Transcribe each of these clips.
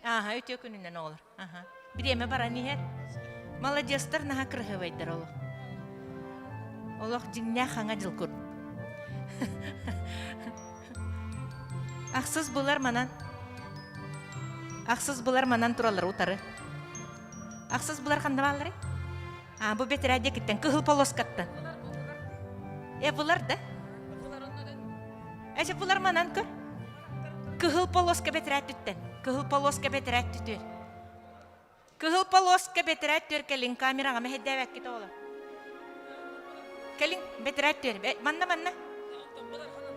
Ааһа үтүө күнүнэн оҕолор. Аха. Бириэмэ баран иһэр. Маладьыастар наһаа кыраһыабайдар олох. Олох дьиҥнээх хаҥа дьыл курдук. Ахсыс булар манан. Ахсыс булар манан туралары утары. Ахсыс булар хандабаллары. А бу бэтэрээ диэкиттэн кыһыл полоскаттан. Э булар да? Эже булар манан көр. Кыһыл полоска бэтэрээ түттэн. Кыһыл полоска бэтэрээ түтүөр. Кыһыл полоска бэтэрээ түөр кэлин камераҕа мэһэйдээбэккит оҕолор. Кэлин бэтэрээ түөр. Манна манна.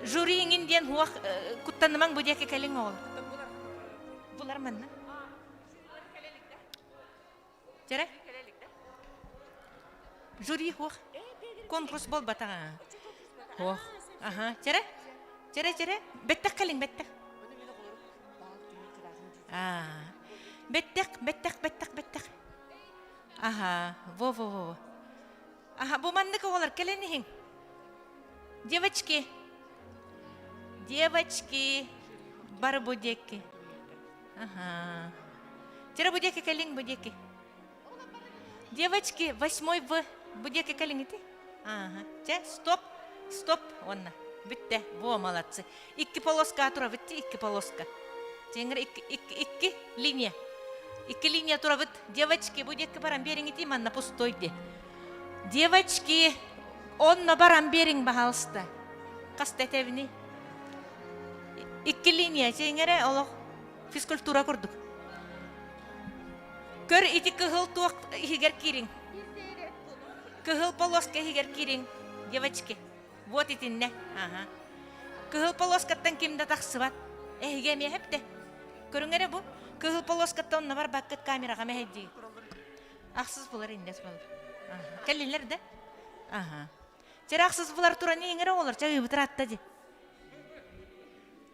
Жюри иҥин диэн хуах куттанымаң бу диэки кэлиҥ оҕол. Булар манна. Чэрэ? Жюри хуох. Конкурс болбатаҕа. Хуох. Аха, чэрэ? Чэрэ, чэрэ, бэттэх кэлиҥ, бэттэх. Аа, бэттэх, бэттэх, бэттэх, бэттэх. Аха, во-во-во. Аха, бу маннык оҕолор кэлэн иһиҥ. Девочки. Девочки, бар бу диэки. Ага. Вчера будеки калин будеки. Девочки, восьмой в будеки калин ити. Ага. Че, стоп, стоп, онна. Бүтте, во, молодцы. Икки полоска турабыт ти, икки полоска. Теңер икки, икки, икки линия. Икки линия турабыт. Девочки, будет икки баран береңити манна пустой де. Девочки, онно баран берең бахалста. Хаста этебини. Икки линия теңере олох физкультура курдук. Көр ити кыһыл туох иһигер кириң. Кыһыл полоска иһигер кириң. Девочки, Вот итиннэ. Аһа. Кыһыл полоскаттан ким да тахсыбат. Эһиги эмиэ эһэптэ. Көрүҥ эрэ бу. Кыһыл полоскаттан онно барбаккыт камераҕа мэһэйдии. Ахсыс булар индес болар. Кэллилэр да? Аха. Тир ахсыс булар туран иңер оҕолор чаһыыбытыр атта ди.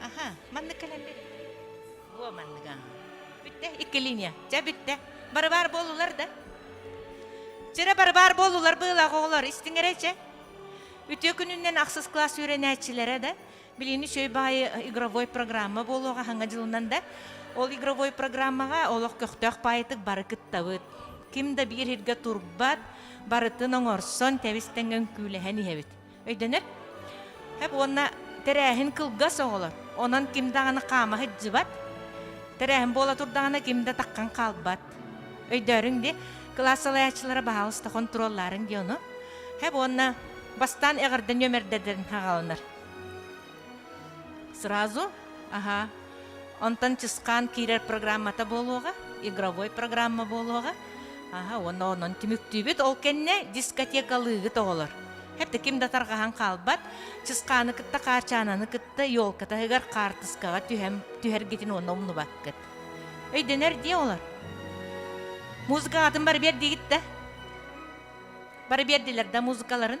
Аха, маннык кэлэллэр. Буо манныга. Бүттэ, икки линия. Дьэ бүттэ. Барыбаар буоллулар да? Чэрэ барыбаар буоллулар быылаах оҕолор. Истиҥэрэ чэ. Үтүө күнүннэн ахсыс класс үөрэнээччилэрэ да, билиини үчүгэй баайы игровой программа буолуоҕа хаҥа дьылынан да, ол игровой программаҕа олох көхтөөх паайтык бары кыттабыт. Ким да биир сиргэ турбат, барытын оҥорсон, тэбис-тэҥҥэ үҥкүүлэһэн иһэбит. өйдөнөр. Эп уонна тэрээһин кылгас оҕолор. Онон ким даҕаны хаама сылдьыбат. Тэрээһин буола турдаҕына ким да таххан хаалбат. Өйдөөрүҥ ди, кылаас салайааччылара баһаалыста контроллаарын ди ону. Эп уонна бастаан эҕэрдэ нүөмэрдэрдэрин хаҕаланар. Сразу? Аха. Онтон Чысхаан киирэр программата буолуоҕа, игровой программа буолуоҕа. Аха, уонна онон түмүктүүбүт. Ол кэннэ дискотекалыыгыт оҕолор. Хэптэ ким да тарҕаһан хаалбат. Чысхааны кытта Хаарчаананы кытта елка таһыгар хаартыскаҕа түһэм, түһэргитин уонна умнубаккыт. Өйдөнөр дии олор. Музыка атын бары биэр диигит да? Бары биэрдилэр да музыкаларын?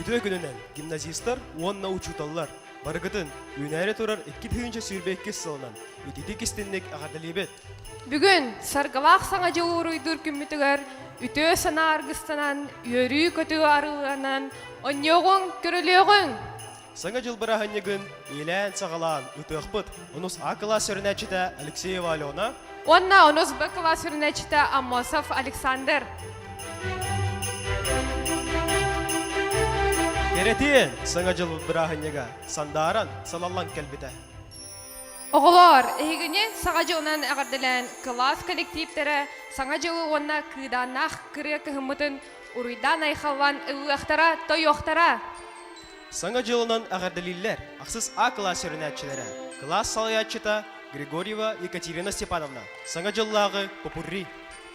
Үтүө күнүнэн, гимназистар уонна учууталлар барыгытын үүнээри турар икки тыһыынча сүүрбэ иккис сылынан ититик-истинник эҕэрдэлиибит! Бүгүн Саргылаах саҥа дьыл уруйдуур күммүтүгэр үтүө санаа аргыстанан, үөрүү-көтүү арылланан, онньоҕуҥ, көрүлүөҕүҥ! Саҥа дьыл бырааһынньыгын иилээн-саҕалаан ытыахпыт. Онус А кылаас сүрүнээччитэ Алексеева Алена. Уонна онус Б кылаас сүрүнээччитэ Аммосов Александр. Кэрэтиэн! Саҥа дьыл бырааһынньыга Сандааран салаллан кэлбитэ. Оҕолоор, эһигини Саҕа дьылынан эҕэрдэлээн кылаас коллективтэрэ Саҥа дьылы уонна кыыдааннаах кырыа кыһыммытын уруйдаан-айхаллаан ылыахтара, тойуохтара! Саҥа дьылынан эҕэрдэлииллэр ахсыс А кылаас сүрүнээччилэрэ, кылаас салайааччыта Григорьева Екатерина Степановна, Саҥа дьыллааҕы попурри!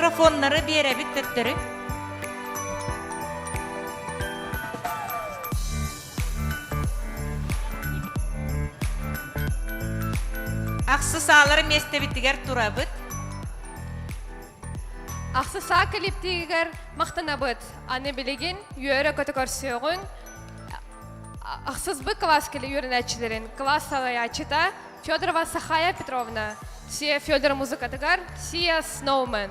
Микрофоннары биэрэбит төттөрү. Ахсы саалары миэстэбитигэр турабыт. Ахсы саа коллективигэр махтанабыт. Аны билигин үөрэ көтө көрсүөҕүн. Ахсысбыт кылаас кэлэ үөрэнээччилэрин кылаас салайааччыта Федорова Сахая Петровна, Сия Федор музыкатыгар Сия Сноумен.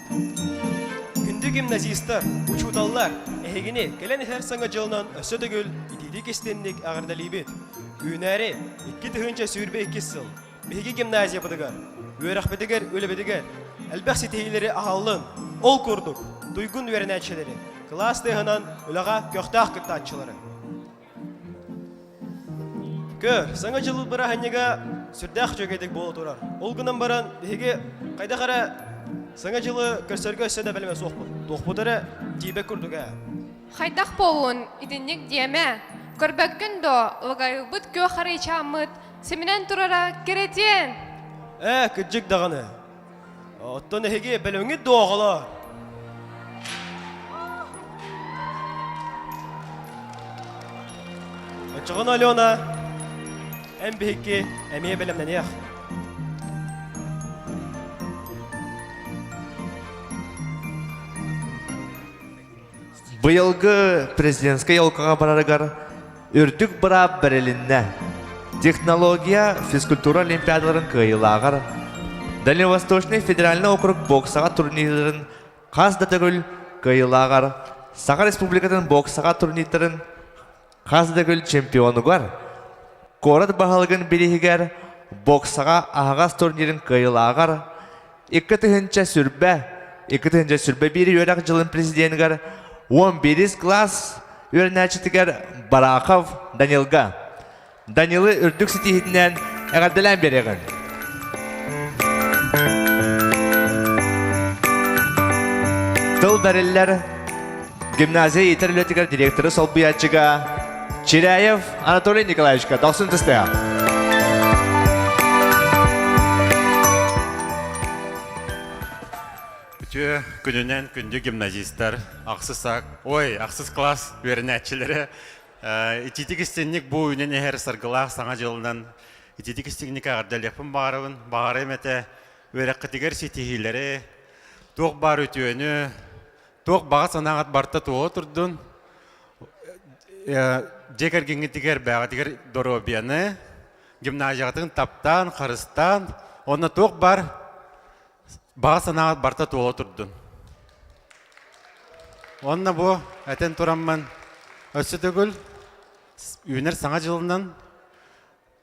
Күндү гимназистар, учууталлар, эһигини кэлэн иһэр саҥа дьылынан өссө төгүл итиитик-истинник эҕэрдэлиибит! Үүнээри икки тыһыынча сүүрбэ иккис сыл биһиги гимназиябытыгар, үөрэхпитигэр, үлэбитигэр элбэх ситиһиилэри аһаллын! Ол курдук, туйгун үөрэнээччилэри, кылаас тыаһынан үлэҕэ көхтөөх кыттааччылары! Көр, Саҥа дьыл бырааһынньыга сүрдээх үчүгэйдик буола турар. Ол гынан баран, биһиги хайдах эрэ Саҥа дьылы көрсөргө өссө да бэлэмэ суохпут. Туохпут эрэ тиийбэт курдук ээ. Хайдах буоллун итинник диэмэ. Көрбөккүн доо, ылгайылбыт күөх харыйчааммыт симинэн турара кирэтиэн. Ээ, кырдьык даҕаны. Оттон эһиги бөлөҥүт дуо, оҕолоор? Оччоҕуна Алена эн биһикки эмиэ бэлэмнэниэх. Быйылгы президентскэй олкаҕа барарыгар үрдүк быраап бэрилиннэ. Технология физкультура олимпиадаларын кыайыылааҕар Дальневосточный федеральный округ боксаҕа турнирын хас да төгүл кыайыылааҕар Саха Республикатын боксаҕа турнирдарын Хас да күл чемпионугар куорат баһылыгын билиһигэр боксаҕа аһаҕас турнирын кыайылааҕар икки тыһыынча сүрбэ икки тыһыынча сүрбэ биир үөрэх дьылын президенигэр уон биирис кылаас үөрэнээччитигэр Барахов Данилга Данилы үрдүк ситиһитинэн эҕэрдэлээн биэриэҕин. Тыл бэриллэр гимназия иитэр үлэтигэр директоры солбуйааччыга Чиряев Анатолий Николаевичка дохсун тыстыа. Үтүө күнүнэн күндү гимназистар, ахсысак, ой, ахсыс класс үөрэнээччилэрэ, ититик истинник бу үнэн эһэр саргылаах саҥа дьылынан ититик истинника ардалеппын баарабын, баарайым этэ, үөрэққитигер ситиһиилэри, туох баар үтүөнү, Туох баҕа санааҕыт барта туола турдун. Дьиэ кэргэҥҥитигэр бээҕитигэр доруобуйаны, гимназияҕытын таптаан, харыстаан, онно туох бар баҕа санааҕыт барта туола турдун. Онно бу этэн тураммын өссө төгүл үүнэр саҥа дьылынан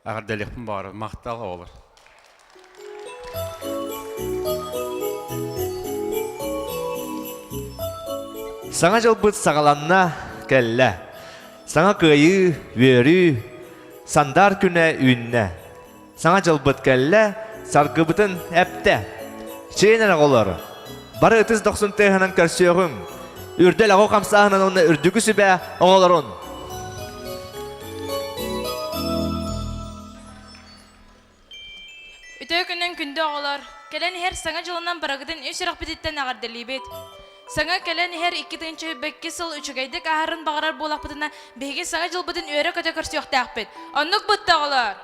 Аҕардалыахпын баҕарар махтаах оҕолор. Саҥа дьылбыт саҕаланна, кэллэ. Саҥа кыайыы, үөрүү, сандаар күнэ үүннэ. Саҥа дьылбыт кэллэ, саргыбытын эптэ. Чээн оҕолор, Бары ытыс дохсун тыаһынан көрсүөҕүҥ. Үрдэл аҕу хамсааһынан уонна үрдүкү сүбэ оҥолорун. Үтөө күнүн күндү оҕолор, кэлэн иһэр Саҥа дьылынан барагытын үс сүрэхпититтэн аҕардылиибит. Саҥа кэлэн иһэр икки тыынча үббэкки сыл үчүгэйдик ааһарын баҕарар буолахпытына, биһиги Саҥа дьылбытын өрө-көтө көрсүөхтээхпит. Оннук бутта оҕолор!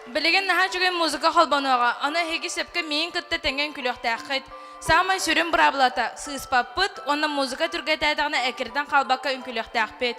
Билигин наһаа үчүгэй музыка холбонуоҕа, аны эһиги сөпкө миин кытта тэҥҥэ үҥкүлүөхтээххит. Саамай сүрүн быраабылата сыыспаппыт уонна музыка түргэтээтэҕинэ эккирэтэн хаалбакка үҥкүлүөхтээхпит.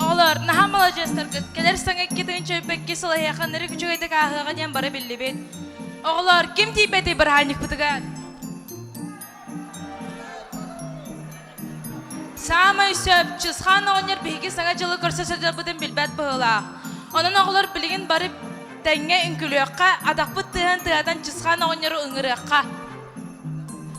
Оҕолор, наһаа маладьыастаргыт! Кэлэр саҥыккыт өнчөйбөккө сылайыахан нырык үчүгэйдик ааһыаҕа диэн бары биллибит. Оҕолор, ким тиийбэтий бырааһынньыкпытыгар? Саамай сөп, Чысхаан оҕонньор биһиги саҥа дьылы көрсө сылдьарбытын билбэт быһыылаах. Онон оҕолор билигин бары тэҥҥэ үҥкүлүөххэ, атахпыт тыаһын тыатан Чысхаан оҕонньору ыҥырыахха.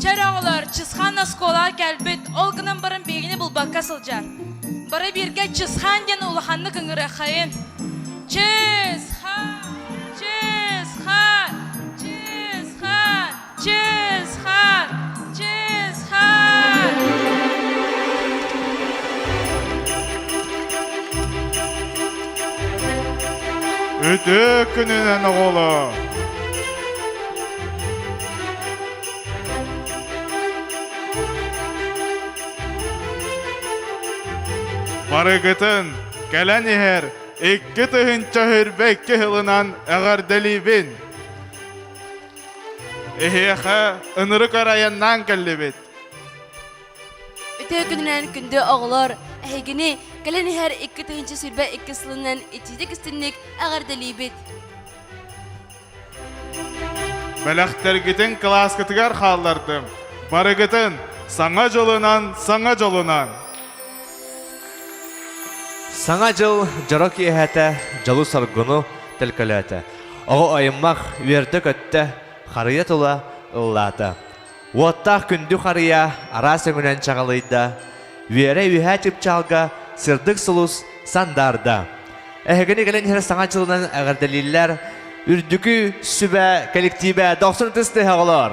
Чэ эрэ оҕолор, Чысхаан оскуолаҕа кэлбит, ол гынан баран биһигини булбакка сылдьар. Бары бииргэ Чысхаан диэн улаханнык ыҥырыаххайын. Чысхаан! Чысхаан! Чысхаан! Чысхаан! Чысхаан! Үтүк күнүнэн, оҕолор! Барыгытын кэлэн иһэр икки тыһынча үрбэкки һылынан эҕэрдэлиибин. Эһиэхэ ынырык арайаннаан кэллибит. Үтө күнүнэн күндү оҕолор, эһигини кэлэн иһэр икки тыһынча сүрбэ икки сылынан итиитик истинник эҕэрдэлиибит. Бэлэхтэргитин кылааскытыгар хааллардым. Барыгытын саҥа дьылынан, саҥа дьолунан. Саҥа дьыл дьоро киэһэтэ дьолу-соргуну төлкөлөөтө. Оҕо айыммах үөрдэ-көттө, харыйа тула ыллаата. Уоттаах күндү харыйа араас өҥүнэн чаҕылыйда, Үөрэ үөһээ чыпчаалга сырдык сулус сандаарда. Эһигини кэлин иһэр саҥа дьылынан эҕэрдэлииллэр Үрдүкү сүбэ кэлэктиибэ дохсун ытыс тыһа оҕолоор!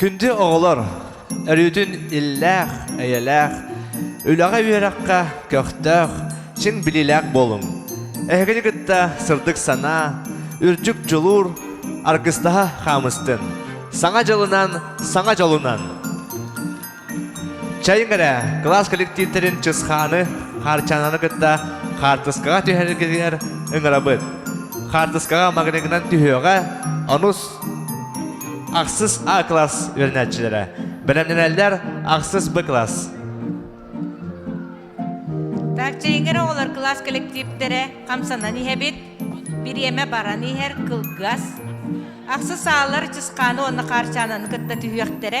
Күндү оҕолор, өрүүтүн иллээх, эйэлээх, үлэҕэ-үөрэххэ көхтөөх, чиҥ билиилээх буолуҥ. Эһигини кытта сырдык санаа, үрдүк дьулуур, аргыстаһа хаамыстын. Саҥа дьылынан, саҥа дьолунан! Чайың эрэ, кылаас коллективтэрин Чысхааны, Хаарчаананы кытта хаартыскаҕа түһэргитигэр ыҥырабыт. Хаартыскаҕа магнигынан түһүөҕэ, онус ахсыс А класс үөрэнээччилэрэ. Бэлэмнэнэллэр ахсыс Б класс. Так, чэйиҥэр оҕолор кылаас коллективтэрэ хамсанан иһэбит. Бириэмэ баран иһэр кылгас. Ахсыс аалар Чысхааны уонна Хаарчаананы кытта түһүөхтэрэ.